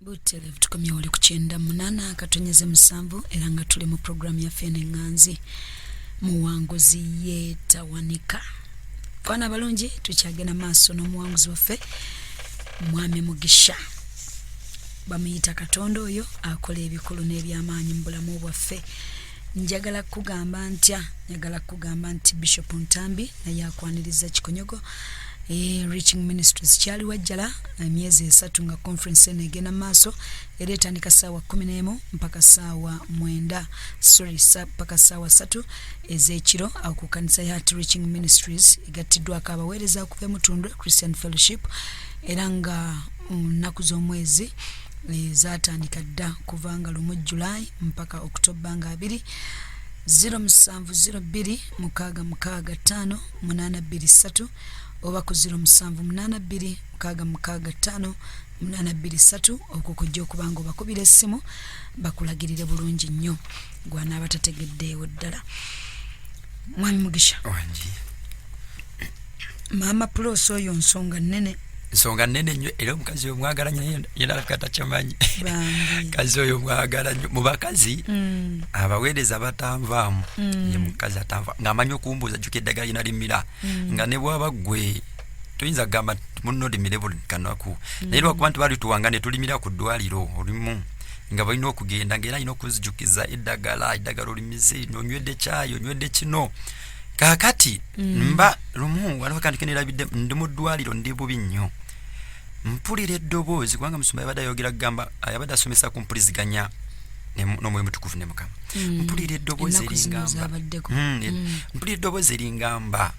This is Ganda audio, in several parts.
butereevu tukomye wali ku kyenda munaana katonyeze musanvu era nga tuli mu puroguramu yaffe eno eŋŋanzi muwanguzi yeetawanika kwana abalungi tukyagenda maaso n'omuwanguzi waffe mwami mugisha bamuyita katonda oyo akola ebikulu n'ebyamaanyi mu bulamu bwaffe njagala kukugamba ntya njagala kukugamba nti bishop ntambi naye akwaniriza kikonyogo e, reaching ministries kyali wajjala emyezi esatu nga conference eno egenda maaso era etandika saawa kumi n'emu mpaka saawa mwenda sorry sa, mpaka saawa satu ez'ekiro awo ku kanisa ya heart reaching ministries egattiddwako abaweereza okuva emutundwe christian fellowship era nga mm, nnaku um, z'omwezi eh, zatandika dda kuvanga lumu july mpaka okutobba nga abiri 0702655823 oba ku 0782655823 okwo kujja okuba nga obakubira essimu bakulagirire bulungi nnyo gwanaaba tategeddeewo ddala mwami mugisha maama pulosi oyo nsonga nnene nsonga nene nyo era omukazi oyo mwagala nyo yena alabika takyamanyi kazi oyo mwagala nyo mubakazi mm. abaweereza batanvaamu mm. ye mukazi atanva ngaamanyi okumbuuza juka eddagala yena limira mm. nga nebwaba gwe toyinza kugamba muno limire buli kanaku naye lwakuba nti balituwanga netulimira ku ddwaliro olimu nga balina okugenda ngaera alina okuzijukiza eddagala eddagala olimize nonywedde kyayi onywedde kino kaakati mm. mba lumu waliwo akantu kenerabidde ndi mu ddwaliro ndi bubi nnyo mpulira eddoboozi kubanga musumba yabadde ayogera kugamba yabadde asomesa ku mpuliziganya n'omwoyo mutukuvu ne mukama mm. mpulira eddoboozi eringamba mm, e- mpulira eddoboozi eringamba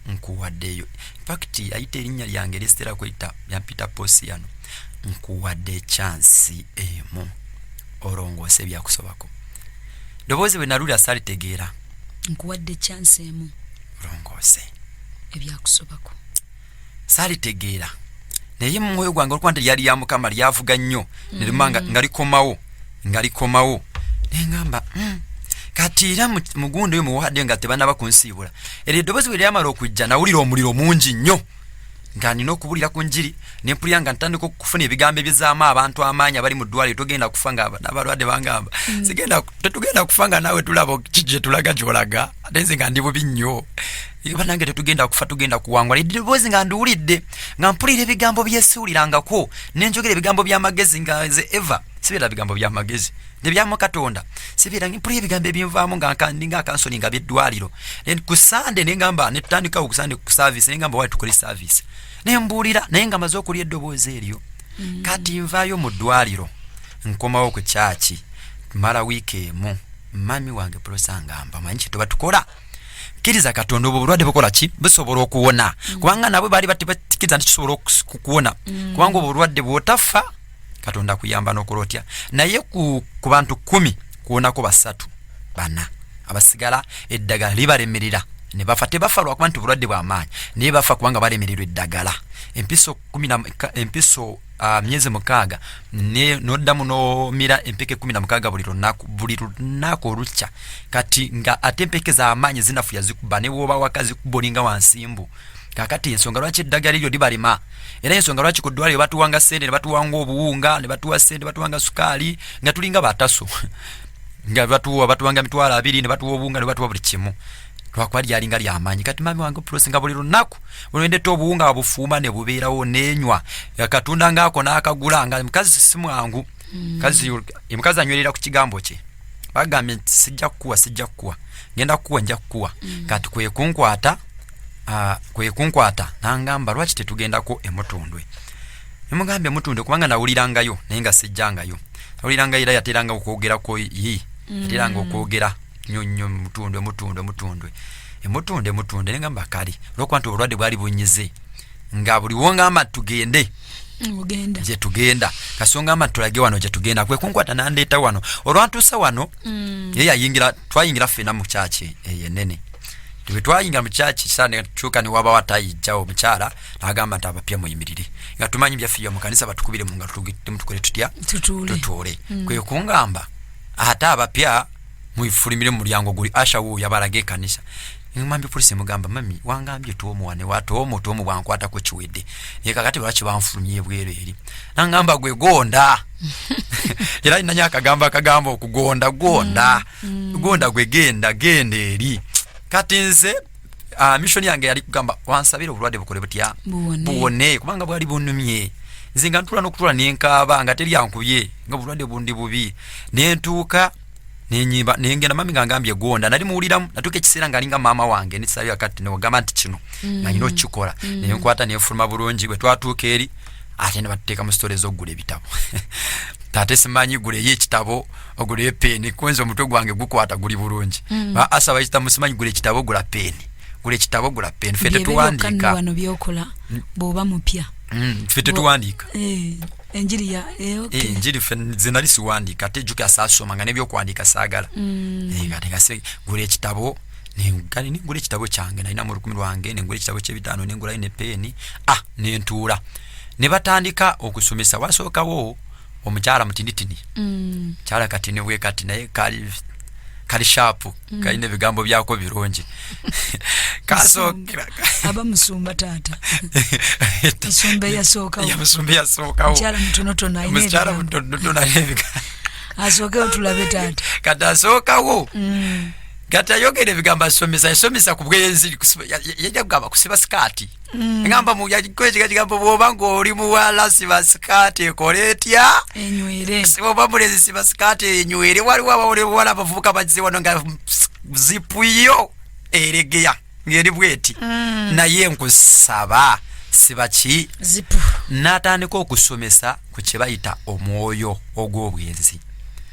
nkuwaddeyo infact ayita erinnya lyange erisitera kweyita yampita posiyano nkuwadde ekyansi emu olongoose ebyakusobako ddoboozi bwe nalulira salitegeera nkuwadde chance emu longoose ebyakusobako saalitegeera naye mumwoyo gwange olwokuba nti lyali lya mukama lyavuga nnyo nerima mm. nga likomawo nga likomawo nengamba mm. kati era mugundo oyo muwadde nga tebanaba kunsiibula eryo eddoboozi bwe lyamala okujja nawulira omuliro mungi nnyo nga nina okubulira ku njiri ne mpulira nga ntandika okufuna ebigambo ebyezaamu abantu amaanyi abali mu ddwaliro togenda kufa nga n'abalwadde bangamba mm. sigenda tetugenda kufa nga naawe tulaba ki gye tulaga gyolaga ate nze nga ndi bubi nnyo banange tetugenda kufa tugenda kuwangula eddoboozi nga ndiwulidde nga mpulira ebigambo byesuulirangako ne njogera ebigambo by'amagezi nga nze eva sibeera bigambo by'amagezi nebyamu katonda sibeera mpulira ebigambo ebinvaamu nga nkandi nga akansoni nga byeddwaliro then ku sande nengamba netutandikawo ku sande ku service nengamba wali tukole service naye mbuulira naye nga maze okulya eddoboozi eryo mm. kati nvaayo mu ddwaliro nkomawo ku kyaki mala wiiki emu mami wange pulosa ngamba manyi kyetuba tukola kkiriza katonda obwo bulwadde bukola ki busobola okuwona mm. kubanga nabwe baali batikiriza nti kisobola okuwona mm. kubanga obwo bulwadde bwotaffa katonda kuyamba nokola otya naye ku, ku bantu kumi kuwonako basatu bana abasigala eddagala libalemerera nebafa tebafa lwakuba nti obulwadde bwamaanyi naye bafa kubanga balemererwa eddagala empiso empiso uh, myezi mukaaga noddamu nomira empeke kumi namukaaga buli lunaku buli lunaku olukya kati nga ate empeke zamaanyi zinafuya zikuba newobawaka zikuba olinga wansimbu kakati ensonga lwaki eddagala eryo libalema era ensonga lwaki ku ddwaliro batuwanga sente ne batuwanga obuwunga ne batuwa sente batuwanga sukaali nga tulinga bataso nga batuwa batuwanga mitwalo abiri ne batuwa obuwunga ne batuwa buli kimu lwakuba lyalinga lyamaanyi kati mami wange pulosi nga buli lunaku olwendeta obuwunga bufuuma ne bubeerawo nenywa katonda ngaako n'akagula nga mukazi simwangu mm. kazi omukazi anywerera ku kigambo kye bagambye nti sijja kukuwa sijja kukuwa ngenda kukuwa nja kukuwa mm. kati kwekunkwata uh, kwekunkwata nangamba lwaki tetugendako emutundwe nemugambye mutundwe kubanga nawulirangayo naye nga sijjangayo nawulirangayo era yateranga okwogerako yi mm. yateranga okwogera nyo nyo mutundwe mutundwe mutundwe emutundwe mutundwe nengamba kali olwokuba nti obulwadde bwali bunyize nga buli wongamba tugende mugenda je tugenda kasonga amatulage wano je tugenda kwe kunkwata nandeta wano olwantusa wano mm. yeye ayingira twayingira fena mu church eye nene tube twayingira mu church sana chuka ni waba watayi jao mchara nagamba ntaba pia muyimirire nga tumanyi bya fiyo mukanisa batukubire mu ngatu tukore tutya tutule tutule mm. kwe kungamba hata abapya muifulimire mumulyango guli asha wo yabalage kanisa ngambye polisi mugamba mami wangambye tomu wane wa tomu tomu bwankwata ko kiwede ye kakati lwaki banfulumye bwere eri nangamba gwe gonda era inanya akagamba akagamba okugonda gonda mm, mm. gonda gwe genda genda eri kati nze ah, mission yange yali kugamba wansabira obulwadde bukole butya buwone kubanga bwali bunumye nze nga ntula nokutula nenkaaba nga teri ankubye nga obulwadde bundi bubi nentuuka nenyimba nengenda mami nga ngambye gonda nali muwuliramu natuuka ekiseera nga alinga maama wange nesabira kati newagamba nti kino mm. nga nyina okukikola mm. nenkwata nenfuluma bulungi bwe twatuuka eri ate ne batuteeka mu sitore z'okugula ebitabo ate simanyi guleyo ekitabo ogula epeni kwenza omutwe gwange gukwata guli bulungi mm. asa bayita musimanyi gula ekitabo ogula peni gula ekitabo ogula peni fe tetuwandiika wano byokola mm. bwoba mupya mm. fe tetuwandiika eh, enjiri ya eh, okay. eh, enjiri fe zinali siwandiika ate juka sasoma nga nebyokuwandiika sagala mm. eh, kati ngase gula ekitabo nengani nengula ekitabo kyange nalina mu lukumi lwange nengula ekitabo kyebitaano nengulayo ne peni ah nentuula ne batandika okusomesa wasookawo omukyala mutinitini mm. kyala katini bwe kati naye kali kali shapu mm. kalina ebigambo byako birungi kasookaaba musumba taata musumba eyasookawomusumba eyasookawomukyala mutonotono mukyala mutonotono ayebiga asookewo tulabe taata kati asookawo mm. kati ayogera ebigambo asomesa yasomesa ku bweyenziri yajja kugamba kusiba sikaati ngamba mu kwekiga kigambo bwoba ng'oli muwala siba sikaati ekole etya enywere bwoba mulezi siba sikaati enywere waliwo abawole buwala abavubuka bagize wano nga zipu yo eregeya ng'eri bweti mm. naye nkusaba siba ki zipu n'atandika okusomesa ku kye bayita omwoyo ogw'obwenzi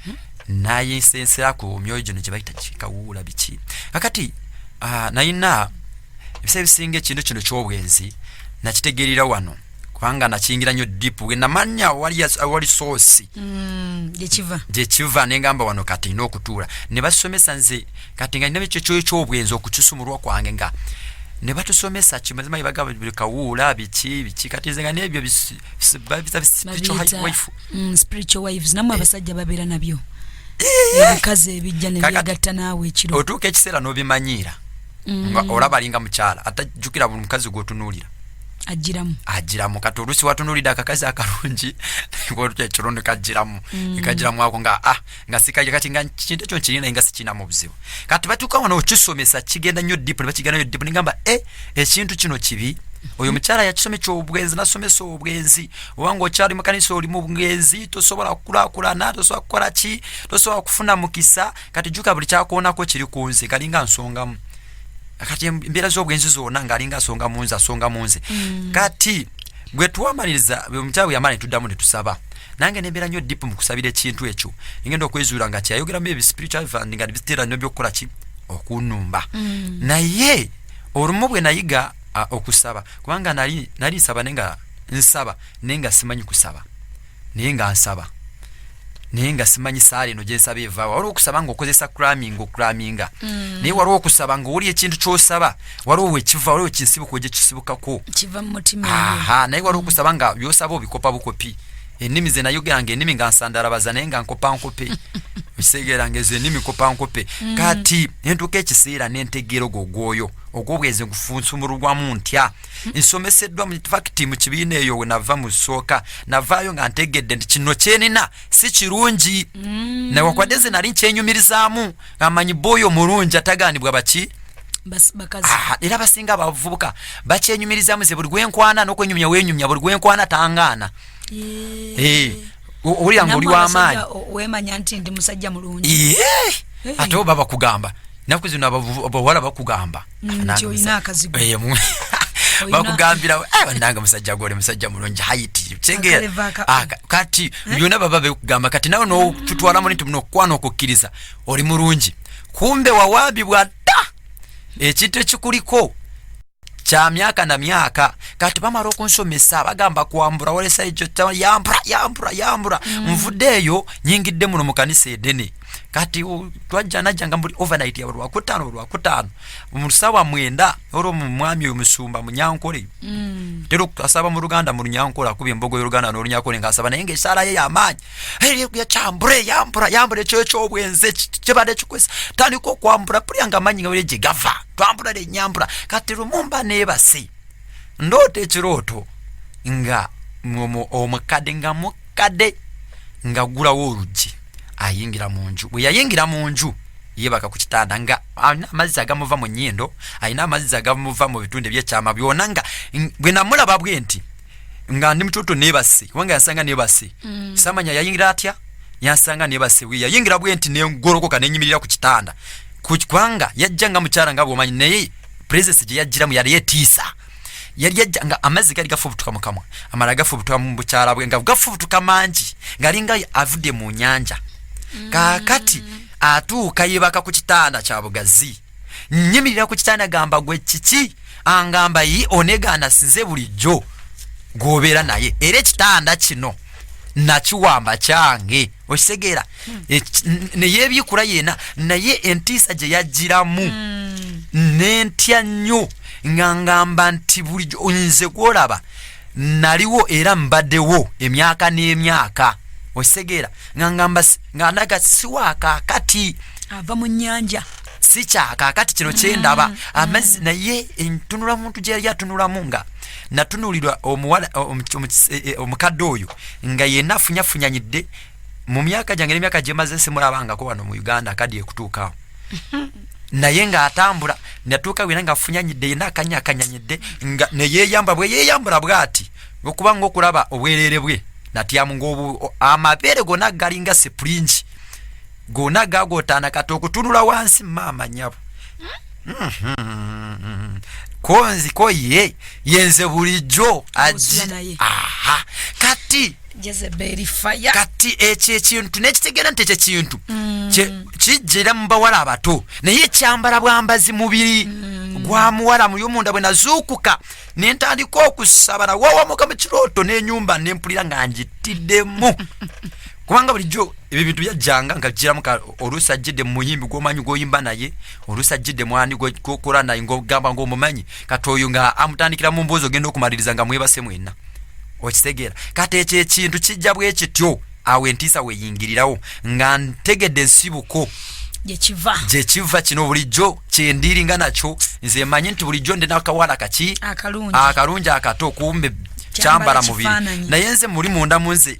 hmm? naye nsensera ku myoyo gino kye bayita kikawuula biki kakati ah, nayina ebisa ebisinga ekintu kino kyobwenzi nakitegeerera wano kubanga nakiyingira nnyo dipu wenamanya awali soosi mm, gyekiva nengamba wano kati nina okutuula ne basomesa nze kati nga nina ekyo kyoyo kyobwenzi okukisumulwa kwange nga ne batusomesa kimazima yebagamba buli kawuula biki biki kati nze nga nebyo namwe abasajja babeera nabyo ebikazi ebijja nebyagatta naawe ekiro otuuka ekiseera n'obimanyiira mm. nga olaba alinga mukyala atajjukira buli mukazi gwotunuulira ajiramu ajiramu kati olusi watunulida akakazi akalungi olutya ekirondo kajiramu mm. ekajiramu ako nga ah nga sikaje kati nga kintu ekyo nkirina naye nga sikinamu obuzibu kati batuuka wano okisomesa kigenda nnyo dipu nebakigenda nyo dipu nengamba e eh, ekintu kino kibi oyo mukyala yakisome kyobwenzi nasomesa obwenzi obanga okyali mukanisa oli mu bwenzi tosobola kukulakulana tosobola kukola ki tosobola kufuna mukisa kati jjuka buli kyakoonako kiri ku nze kalinga nsongamu kati embeera z'obwenzi zonna ng'alinga asonga mu nze asonga mu nze mm. kati bwe twamaliriza omukyala bwe yamala ne tuddamu ne tusaba nange nembeera nnyo dipu mu kusabira ekintu ekyo engenda okwezuula nga kyayogeramu ebi spiritual fund nga biteera nnyo by'okukola ki okunumba mm. naye olumu bwe nayiga okusaba kubanga nali nsaba naye nga nsaba naye nga simanyi kusaba naye nga nsaba naye nga simanyi saala eno gyensaba evaawa waliwo okusaba nga okozesa craming ocraminga mm. naye waliwo okusaba nga oli ekintu kyosaba waliwo wekiva waliwo kinsibuko gyekisibukako naye waliwo okusaba nga byosaba obikopa bukopi ennimi ze nayogera nga ennimi nga nsandalabaza naye nga nkopa nkope okisegeera nga ezo ennimi kopa nkope mm. kati nentuuka ekiseera nentegeera ogwo ogwoyo ogwobwezi gufunsumulugwamu ntya nsomeseddwa fakiti mu kibiina eyo we nava mu sooka navaayo nga ntegedde nti kino kyenina si kirungi mm. newakwadde nze nali nkyenyumirizaamu amanyi booyo omulungi atagaanibwa baki era basinga abavubuka bakyenyumirizamu ze buli gwenkwana nokwenyumya wenyumya buli gwenkwana tangaana eh, owulira nga oli wamaanyi ate oba bakugamba naku zino abawala bakugamba nti olina akazigo eh, bakugambira eh, banange musajja gole musajja mulungi haiti kitegeera ah, kati eh? byona baba bekugamba kati nawe notutwalamu nti muno okukwana okukkiriza oli mulungi kumbe wawaabibwa dda ekintu ekikuliko kya myaka na myaka kati bamala okunsomesa bagamba kwambura walesa ekyo yambura yambura yambura mm. nvudde eyo nyingidde muno mu kanisa edene kati twajja najjanga muli overnight ya lwakutaano olwakutaano mu sawa mwenda olwo mu mwami oyo musumba munyankole mm. tero asaba mu luganda mu lunyankole akuba embogo y'oluganda n'olunyankole ng'asaba naye ng'esaala ye yamaanyi yakyambula eyambula yambula ekyo ekyobwenze kibadde kikwesa tandika okwambula pulya nga amanyi nga were gye gava twambula lenyambula kati lumu mba neebase ndoota ekirooto nga omukadde nga mukadde ngagulawo oluggi ayingira mu nju bwe yayingira mu nju yebaka ku kitanda nga alina amazzi agamuva mu nyindo alina amazzi agamuva mu bitundu ebyekyama byona nga bwe namulaba bwe nti nga ndi mututu nebase kubanga yasanga nebase mm. samanya yayingira atya yasanga nebase bwe yayingira bwe nti nengolokoka nenyimirira ku kitanda kubanga yajja nga mukyala nga bwomanyi naye presence gye yajjiramu yali yetiisa yali ajja nga amazzi gali gafubutuka mu kamwa amala gafubutuka mu bukyala bwe nga gafubutuka mangi ngalinga avudde mu nyanja mm. kakati atuuka yebaka ku kitanda kya bugazi nyimirira ku kitanda gamba gwe kiki angamba yi onegaana sinze bulijjo gwobeera naye era ekitanda kino nakiwamba kyange okitegeera hmm. e, neyebyikula yena naye entiisa gye yajjiramu hmm. nentya nnyo nga ngamba nti bulijo nze gwolaba naliwo era mbadewo emyaka n'emyaka okitegeera nga ngamba nga ndaga siwakakati ava mu nyanja sikyakakati kino kyendaba hmm. amazzi naye entunula muntu gyeyali atunulamu nga natunulirwa omuwala e, e, omukadde oyo nga yena afunyafunyanyidde mu myaka gyange nemyaka gyemaze simulabangako wano mu uganda akadi ekutuukawo naye nga atambula natuuka wena nga afunyanyidde yena akanya akanyanyidde nga neyeyamba bwe yeyambula bwati okuba nga okulaba obwerere bwe natyamu ngaobu amabeere gona galinga sipulingi gona gagotaana kati okutunula wansi maama nyabo hmm? Mhm. ko nziko ye yenze bulijjo aji Osula naye. aha kati jezeberi faya kati ekyo ekintu nekitegeera nti ekyo ekintu Mm. kye- kijjira mu bawala abato naye ekyambala bwambazi mubiri Mm. gwa muwala muyomunda bwe nazuukuka ne ntandika okusaba nawawamuka mu kirooto n'enyumba ne mpulira nga ngitiddemu kubanga bulijjo ebyo bintu byajjanga nga bijiramu oluusi ajjidde mu muyimbi gw'omanyi gw'oyimba naye oluusi ajjidde mwani gw'okola naye ng'ogamba ng'omumanyi kati oyo nga amutandikira mu mboozi ogenda okumaliriza nga mwebase mwenna okitegeera kati ekyo ekintu kijja bwe kityo awo entiisa weyingirirawo nga ntegedde ensibuko gyekiva gyekiva kino bulijjo kyendiringa nakyo nze manyi nti bulijjo ndi nakawala kaki akalungi akato kumbe kyambala mubiri naye nze muli munda munze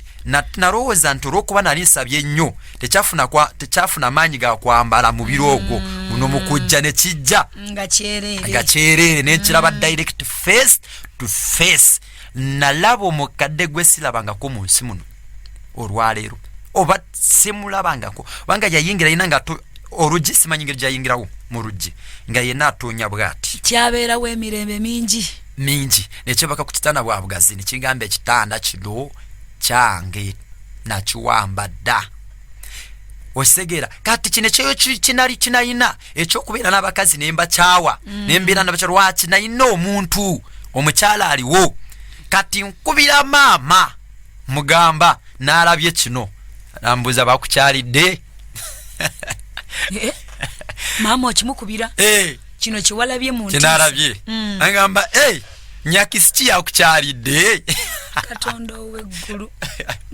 nalowooza nti olwokuba nali nsabye nnyo tekyafuna maanyi ga kwambala mubiri ogwo mm. muno mukujja nekijja nga kyereere nenkiraba mm. direct face to face nalaba omukadde gwe silabangako mu nsi muno olwaleero oba simulabangako kubanga yayingira yina nga oluggi simanyi ngeri gyayingirawo mu luggi nga yena atoonya bwati kyabeerawo emirembe mingi mingi nekyebaka ku kitanda bwa bugazi nekigamba ekitanda kino kyange nakiwamba dda okisegeera kati kino ekyoyo kinali kinayina ekyokubeera n'abakazi ne mbakyawa mm. ne mbeera nabakya lwaki nayina omuntu omukyala aliwo kati nkubira maama mugamba n'alabye kino nambuuza bakukyalidde eh? maama okimukubira eh. kino kyewalabye muntinalabye mm. agamba nyakisi ki yakukyalidde katonda oweggulu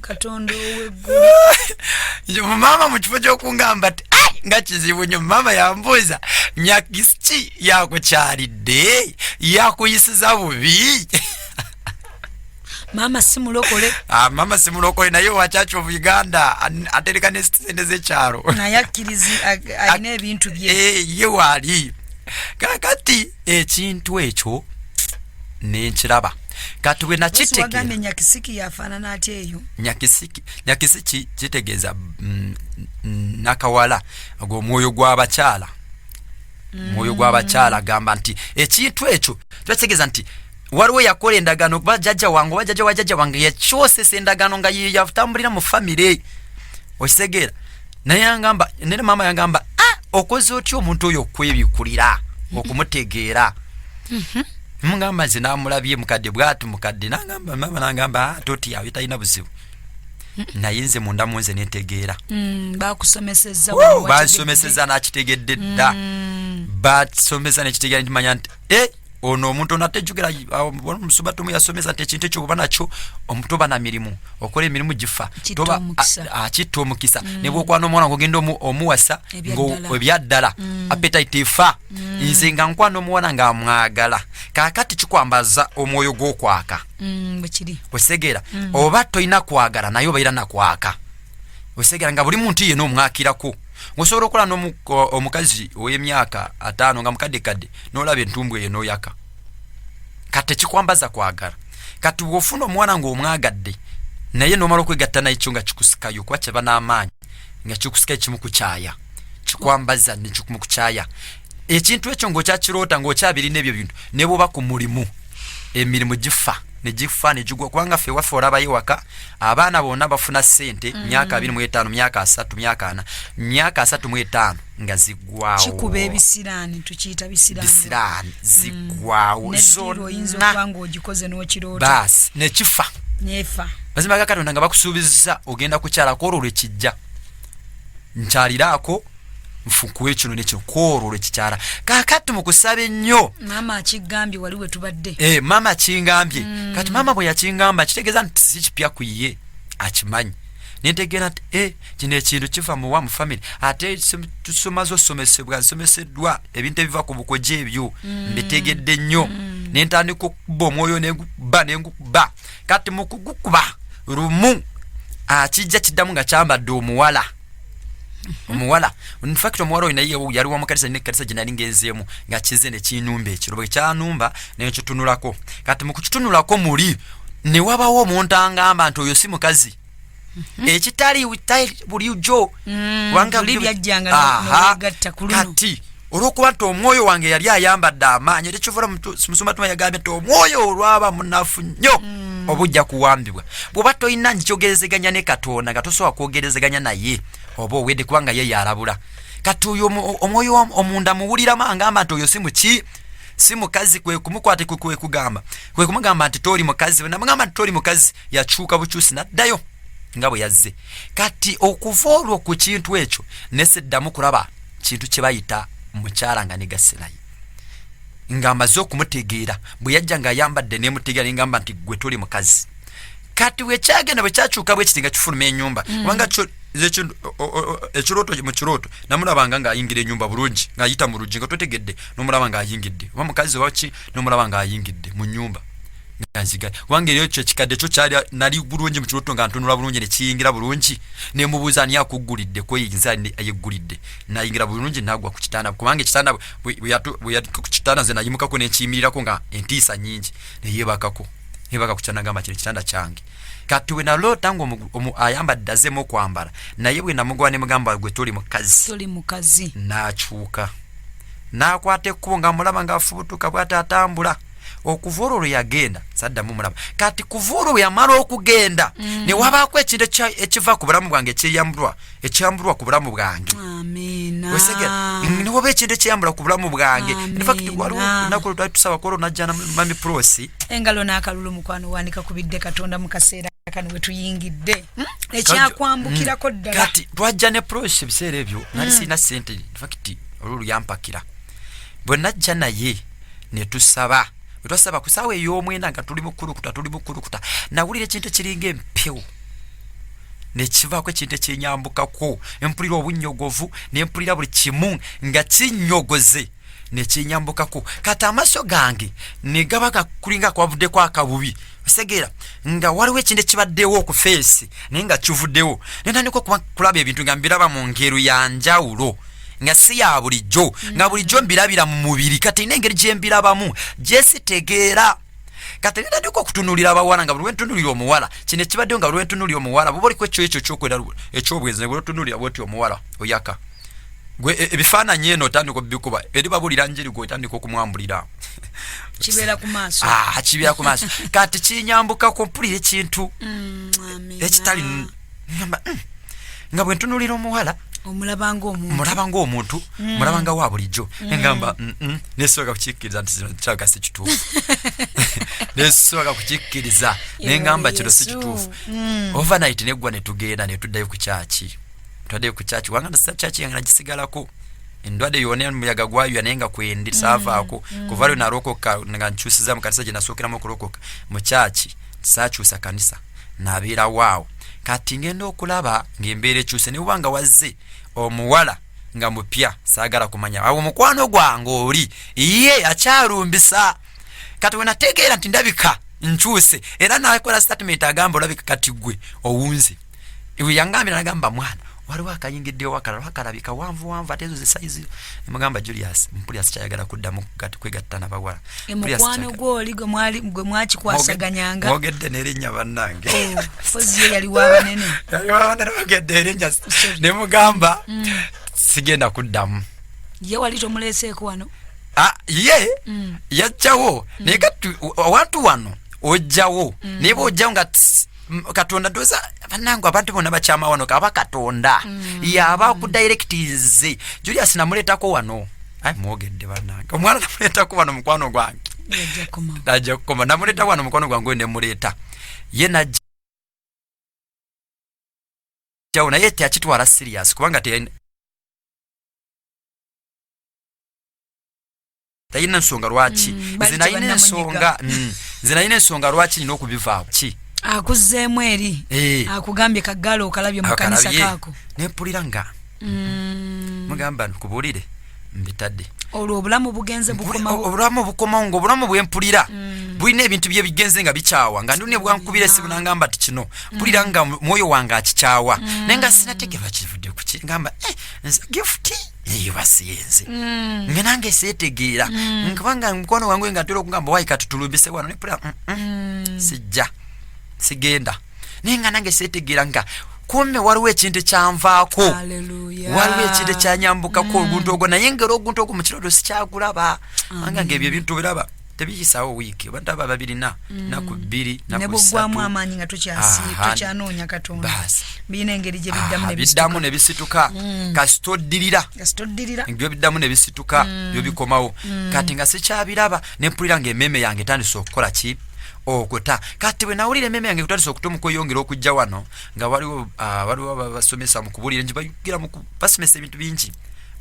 katonda oweggulu maama mu kifo ky'okungamba ti nga kizibu nnyo maama yambuuza nyakisi ki yakukyalidde yakuyisiza bubi mama simulokole ah, mama simulokole naye wa church of uganda atereka ne sente zekyalo naye akkirizi alina ebintu bye eh, ye waali kakati ekintu ekyo nenkiraba kati bwe nakitegera nyakisiki yafaanana atya eyo nyakisiki nyakisiki kitegeeza mm, nakawala ogwomwoyo gw'abakyala mm. mwoyo gw'abakyala gamba nti ekintu ekyo kitegeeza nti waliwo yakola endagaano okuba jajja wange oba jajja wa jajja wange yakyosesa endagaano nga yeyatambulira mu famire okitegeera naye yangamba nene maama yangamba ah, okoze otya omuntu oyo okwebikulira okumutegeera mhm. mugamba nze namulabye mukadde bwati mukadde nagamba maama nagamba ah, totiyawe talina buzibu naye nze munda munze netegeera mm, bansomeseza nakitegedde dda mm. basomesa nekitegeera ntimanya nti eh, ono omuntu ono atejjukira omusumba tomu yasomesa nti ekintu ekyo oba nakyo omutu oba na mirimu okola emirimu gifa akitta omukisa mm. nebwokwana omwana ngogenda omuwasa ebyaddala mm. apetite efa mm. nze nga nkwana omuwana nga amwagala kakati kikwambaza omwoyo gwokwaka mm, osegeera mm. oba tolina kwagala naye obaira nakwaka osegeera nga buli muntu yena omwakirako osobola okukola n'omukazi ow'emyaka ataano nga mukadde kadde n'olaba entumbu eyo n'oyaka kati tekikwambaza kwagala kati bw'ofuna omuwala ng'omwagadde naye n'omala okwegatta naye kyo nga kikusikayo kuba kyeba n'amaanyi nga kikusikayo kimu kukyaya kikwambaza nekimu kukyaya ekintu ekyo ng'okyakiroota ng'okyabirina ebyo bintu ne bwoba ku mulimu emirimu gifa negifa negigwa kubanga ffe waffe olaba ewaka abaana bonna bafuna sente mm. myaka abiri mu etaano myaka asatu myaka ana myaka asatu mu etaano nga ziggwawokikuba ebisiraani tukiyita bisiraani ziggwawo mm. zonabaasi nekifa mazima ga katonda nga bakusuubizza ogenda kukyalako olwo lwekijja nkyaliraako nfukuwe kino nekyo kwolwo lwekikyala kakati mukusaba ennyo maama akigambye wali wetubadde e, eh, maama akingambye mm. kati maama bwe yakingamba kitegeeza nti sikipya ku ye akimanyi nentegeera nti e kino ekintu kiva muwa mu famiry ate tusomaze osomesebwa nsomeseddwa ebintu ebiva ku bukoja ebyo mm. mbitegedde nnyo mm. nentandika okukuba omwoyo nengukuba nengukuba kati mukugukuba lumu akijja kiddamu nga kyambadde omuwala omuwala in fact omuwala oyo naye yali wa mukanisa nina ekkanisa gye nali ngenzeemu nga kize ne kinumba ekiro bwe kyanumba naye nkitunulako kati mu kukitunulako muli ne wabawo omuntu angamba nti oyo si mukazi mhm. ekitali bulijo mm, kati olwokuba nti omwoyo wange yali ayambadde amaanyi era ekivula musumba tuma yagambye nti omwoyo olwaba munafu nnyo mm. oba ojja kuwambibwa bwoba tolina nkikyogerezeganya ne katonda nga tosobola kwogerezeganya naye oba owedde kubanga ye yalabula kati oyo omwoyo omunda muwuliramu angamba nti oyo si muki si mukazi kwekumukwate kwekwekugamba kwekumugamba nti toli mukazi namugamba nti toli mukazi yakyuka bukyusi naddayo nga bwe yazze kati okuva olwo ku kintu ekyo neseddamu kulaba kintu kye bayita mukyala nga negasilayo ng'amaze okumutegeera bwe yajja ng'ayambadde nemutegeera nengamba nti gwe tuli mukazi kati wekyagenda bwe kyakyuka bwe kiti nga kifuluma enyumba mm. kubanga ekirooto mu kirooto namulabanga ng'ayingira enyumba bulungi ng'ayita mu luggi nga twetegedde nomulaba ng'ayingidde oba mukazi waki nomulaba ng'ayingidde mu nyumba ganziga wange lyo kyo kikadde kyo kyali nali bulungi mu kiroto nga ntunula bulungi ne kiyingira bulungi ne mubuuza ani akuggulidde ko yinza ayeggulidde nayingira bulungi nagwa ku kitanda kubanga ekitanda bweyali ku kitanda nze nayimukako ne nkiyimirirako nga entiisa nyingi ne yeebakako nebaka ku kitanda gamba kino ekitanda kyange kati we naloota nga ayambadde azemu okwambala naye bwe namugwa ne mugamba gwe toli mukazi nakyuka nakwata ekkubo nga mulaba nga afubutuka bwati atambula okuva olwo lwe yagenda saddamu mulaba kati kuva olwo bwe yamala okugenda mm. ne wabaako ekintu ekiva ku bulamu bwange ekyeyambulwa ekyambulwa ku bulamu bwange osegera mm, ne waba ekintu ekyeyambula ku bulamu bwange infakti waliwo lunaku lwali tusaba kwolwo najjana mami prosi engalo n'akalulu mukwano wandika ku bidde katonda mu kaseera kano we tuyingidde hmm? ekyakwambukirako hmm. ddala kati twajja ne prosi ebiseera ebyo nali hmm. sirina sente infakti olwo luyampakira bwe najja naye ne tusaba bwe twasaba ku saawa ey'omwenda nga tuli mukulukuta tuli mukulukuta nawulira ekintu ekiringa empewo nekivaako ekintu ekyenyambukako empulira obunnyogovu nempulira buli kimu nga kinnyogoze nekyenyambukako kati amaaso gange negaba gakulinga kwavuddeko akabubi segera nga waliwo ekintu ekibaddewo oku feesi naye nga kivuddewo naye ntandika okulaba ebintu nga mbiraba mu ngero ya njawulo nga si ya bulijjo nga mm. bulijjo mbirabira mu mubiri kati ina engeri gye mbirabamu gyesitegeera kati nina ndiko okutunulira abawala nga buli ntunulira omuwala kino ekibaddeyo nga buli ntunulira omuwala buba oliko ekyo ekyo kyokwera ekyobwenzi ne buli otunulira bwoti omuwala oyaka gwe e, ebifaananyi eno otandika obikuba eri babulira njiri gwe otandika okumwambulira kibeera ku maaso ah, kibeera ku maaso kati kinyambuka ku mpulira ekintu mm, ekitali mm, nga bwe ntunulira omuwala omulaba ngaomuntu mm. mulaba nga wa bulijjo engamba nesobola kukikkiriza nti kino kyaga si kituufu nesobola kukikkiriza nengamba kino si kituufu overnight neggwa netugenda netuddayo ku kyaki twade ku church wanga na church yanga najisigalako endwade yone muyaga gwayo yanenga kwendi mm. sava ako mm. kuvalo na roko ka nga nchusiza mu kanisa jina sokera mu kuroko mu church sachu sa kanisa na bira wao kati ngenda okulaba ngembere chuse ne wanga wazze omuwala nga mupya sagara kumanya awo mukwano gwange oli iye akyarumbisa kati wenategeera nti ndabika nkyuse era nakola statement agamba olabika kati gwe owunze iwe yangambira nagamba mwana waliwo akayingidde wakalala wakalabi kawanvu wanvu ate ezo zisaizi emugamba julius mpulira sikyayagala kuddamu kwegatta nabawala emukwano gwoli gwe mwakikwasaganyanga ogedde nerinnya bannange oh, fozi ye yali wabanene yali wabanene ogedde erinnya ne mugamba mm. sigenda kuddamu ye wali tomuleeseeko wano ah, ye mm. yajjawo naye kati awantu wano ojjawo mm. naye bwojjawo nga katonda doza banange abantu bona bakyama wano kaba katonda mm. yaba kudirectinze julius namuletako wano ai mwogedde banange omwana namuletako wano mukwano gwange ajja kukoma namuleta wano mukwano gwange oyo nemuleeta ye najja jawo naye teakitwala serious kubanga tayina nsonga lwaki mm, nze nayina ensonga mm, nze nayina ensonga lwaki nina okubivaako ki akuzeemu eri eh. akugambye kagalo okalabye mukanisa kako nepulira nga mm. mugamba nkubuulire mbitadde olwo obulamu bugenze bukomaobulamu bukomawo nga obulamu bwempulira bulina ebintu byebigenze nga bikyawa nga ndune bwankubira esimu nangamba ti kino mpulira nga mwoyo wange akikyawa naye nga sinategerwa kivudde kuki ngamba eh, gifuti eyo basiyenze mm. nga nange setegeera mm. nkubanga mukwano wange nga ntera okugamba wayi katutulumbise wano nepula mm, mm. mm. sijja sigenda naye nga nange setegeera nga kumbe waliwo ekintu ekyanvaako waliwo ekintu ekyanyambukako mm. oguntu ogwo naye ngera oguntu ogwo mu kirooto sikyakulaba anga nga ebyo ebintu biraba tebiyisaawo wiiki oba ndaba babirina mm. naku bbiri nebugwamu amaanyi nga tukyanoonya katonda birina engeri gyebiddamu nebisituka mm. kasita oddirira byobiddamu nebisituka mm. byobikomawo kati nga sikyabiraba nempulira nga emeeme yange etandise okukola ki okuta kati bwe nawulira emeeme yange kutandisa okuta omukweyongera okujja wano nga waliwo ah, waliwo basomesa mukubulira nti bayugira basomesa ebintu bingi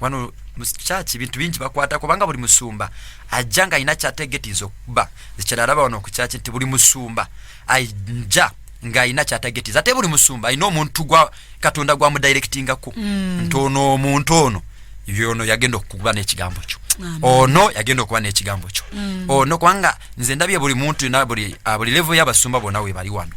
wano mukyaki bintu bingi bakwata kubanga buli musumba ajja nga alina kyatagetinza okuba ekyeralaba wano okukyaki nti buli musumba aja ng'alina kyatagetinza ate buli musumba alina omuntu gwa katonda gwamudirectingako mm. nti ono omuntu ono yono yagenda okukuba n'ekigambo kyo ono yagenda okuba n'ekigambo kyo mm. ono kubanga nze ndabye buli muntu na buli ah, levo y'abasumba bona we bali wano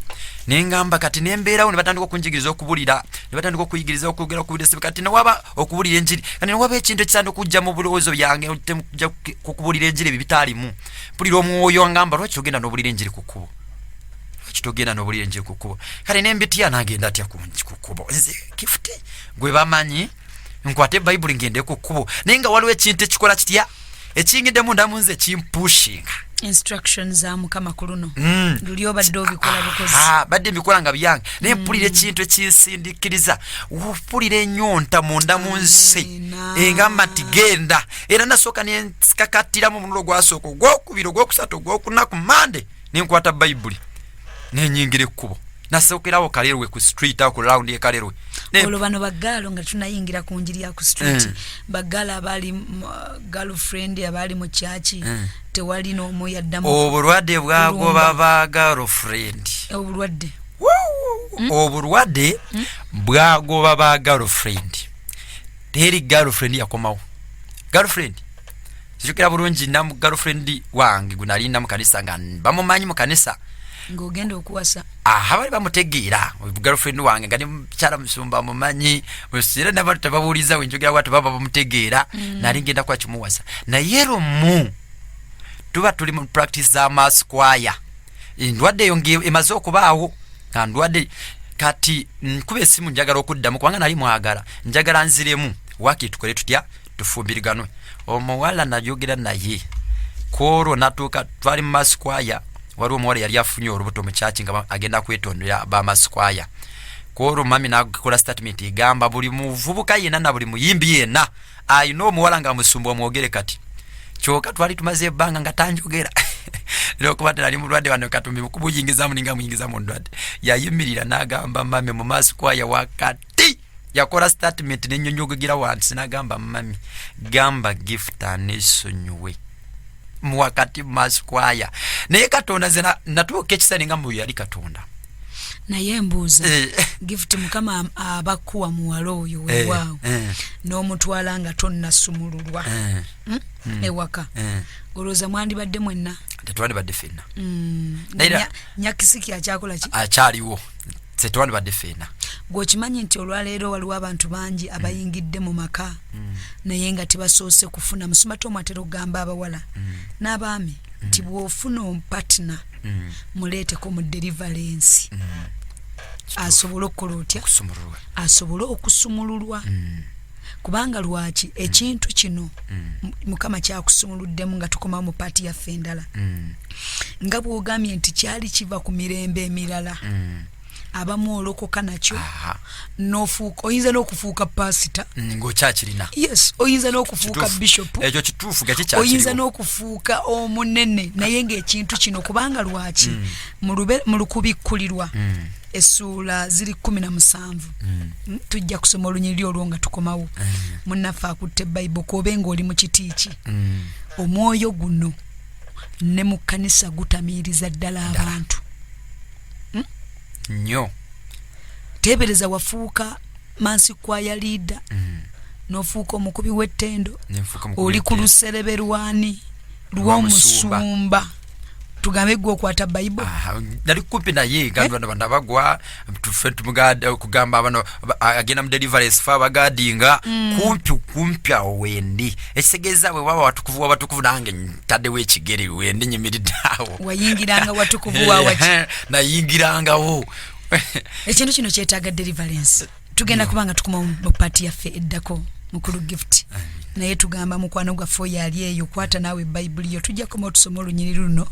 ne ngamba kati ne mbeerawo ne batandika okunjigiriza okubulira ne batandika okuyigiriza okwogera okubulira kati ne waba okubulira enjiri kati ne waba ekintu ekisanda okujja mu bulowoozo byange nja kukubulira enjiri ebyo bitaalimu mpulira omwoyo angamba lwaki togenda nobulira enjiri ku kkubo lwaki togenda nobulira enjiri ku kkubo kale nembitya nagenda atya ku kkubo nze kifuti gwe bamanyi nkwate bayibuli ngende ku kkubo naye nga waliwo ekintu ekikola kitya ekiyingidemu ndamu nze kimpushinga instruction za mukama ku luno mm. luli obadde obikola ah, bukozi ah, badde mbikola nga byange naye mm. mpulira ekintu ekinsindikiriza mpulira enyonta munda mu nsi engamba nti genda era nasooka nensikakattiramu omunulo gwasooka ogwokubiri ogwokusatu ogwokuna ku mande nenkwata bayibuli nenyingira ekkubo nasookerawo kalerwe ku street awo ku lawundi ekalerwe olwo bano bagaalo nga tunayingira ku njiri ya ku street mm. bagaalo abaali girlfriend abaali mu kyaki mm. tewali n'omu yaddamu obulwadde bwagoba ba girlfriend obulwadde hmm? obulwadde hmm? bwagoba ba girlfriend teri girlfriend yakomawo girlfriend zijukira bulungi namu girlfriend wange gunali namu kanisa nga bamumanyi mu kanisa ngogenda okuwasa aha bali bamutegeera girlfriend wange nga ne mukyala musumba mumanyi era nabantu tebabuuliza wenjogera watu baba bamutegeera mm. nali ngenda kuba kimuwasa naye lumu tuba tuli mu practice za masquire endwadde eyo nga emaze okubaawo nga ndwadde kati nkuba esimu njagala okuddamu kubanga nali mwagala njagala nziremu waki tukole tutya tufumbiriganwe omuwala nayogera naye kwolwo natuuka twali mu masikwaya waliwo omuwala yali afunye olubuto mukyaki nga agenda kwetondera bamasikwaya kwolwo mami nakola statement egamba buli muvubuka yena na buli muyimbi yena ayina omuwala nga musumba omwogere kati kyoka twali tumaze ebbanga nga tanjogera lwokuba tera ali mulwadde wano katumbi mukubuyingizamu ninga muyingiza mu ndwadde yayimirira n'agamba mami mu maaso kwaya wakati yakola statement nenyonyogegera wansi n'agamba mami gamba gift anesonyiwe muwakati mumaskwaya naye katonda nze natuuka ekisani nga muyo yali katonda naye embuuza eh. gift mukama abakuwa muwala oyo eh, wewaawo eh. n'omutwala nga tonnasumululwa hmm? Hmm. ewaka olowooza mwandibadde mwenna tetwandibadde fenna hmm. nyakisiki akyakola ki akyaliwo ffe twandibadde feena gwe okimanyi nti olwaleero waliwo abantu bangi abayingidde mu maka mm. naye nga tebasoose kufuna musumati omu atera okugamba abawala mm. n'abaami mm. nti bw'ofuna ompatina muleeteko mu delivalensi asobole okukola otya asobole okusumululwa kubanga lwaki mm. ekintu kino mm. mukama kyakusumuluddemu nga tukomawo mu paati yaffe endala mm. nga bwogambye nti kyali kiva ku mirembe emirala abamu olokoka nakyo nofuuka oyinza n'okufuuka pasita ngaokyakirina yes oyinza n'okufuuka bishop ekyo kituufu gakikyakiriwo oyinza n'okufuuka omunene naye ngaekintu kino kubanga lwaki mu lukubikkulirwa essuula ziri kumi na musanvu mm. tujja kusoma olunyiriri olwo nga tukomawo mm. munnaffe akutte bayibo kuobe ngaoli mu kiti ki mm. omwoyo guno ne mu kkanisa gutamiiriza ddala abantu hmm? nyo teebereza wafuuka mansi kwaya liida mm. n'ofuuka omukubi w'ettendo oli ku luserebe lwani lwomusumba tugambe gwe okwata bible nali kumpi naye gamba eh? bana bagwa tufe tumugada kugamba abana agenda mu deliverance fa bagadinga mm. kumpi kumpi awo wendi ekitegeeza bwe baba watukuvu wabatukuvu nange ntaddewo ekigere wendi nyimiridde awo wayingiranga watukuvu wawaki nayingirangawo ekintu kino kyetaaga deliverance tugenda kuba nga tukuma mu paati yaffe eddako mukulu gift naye tugamba mukwano gwaffe oyo ali eyo kwata naawe bayibuli yo tujja koma otusoma olunyiriri luno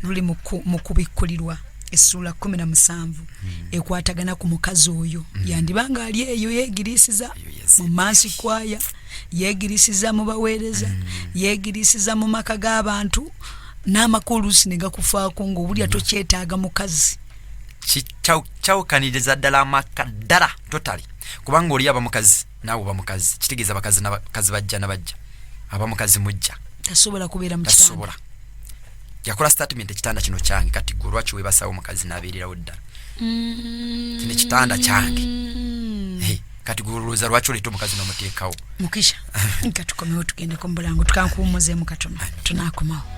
luli mu kubikkulirwa essuula kumi na musanvu hmm. ekwatagana ku mukazi oyo hmm. yandiba nga ali eyo yeegiriisiza mu maansi kwaya yeegiriisiza mu baweereza hmm. yeegiriisiza mu maka g'abantu n'amakulusi ne gakufaako ng'owulira tokyetaaga mukazi kyawukaniriza ddala amaka ddala totali kubanga oli aba mukazi naawe oba mukazi kitegeeza bakazi nabakazi bajja nabajja aba mukazi mujja tasobola kubeera mutasobola yakola statement ekitanda kino kyange kati gwe olwaki webasawo omukazi nabeererawo ddala mm. kino ekitanda kyange kati gweolowooza lwaki oleeta omukazi nomuteekawo mukisha nga tukomewo tugendeko mubulango tukankuwumuzemu katono tunakomawo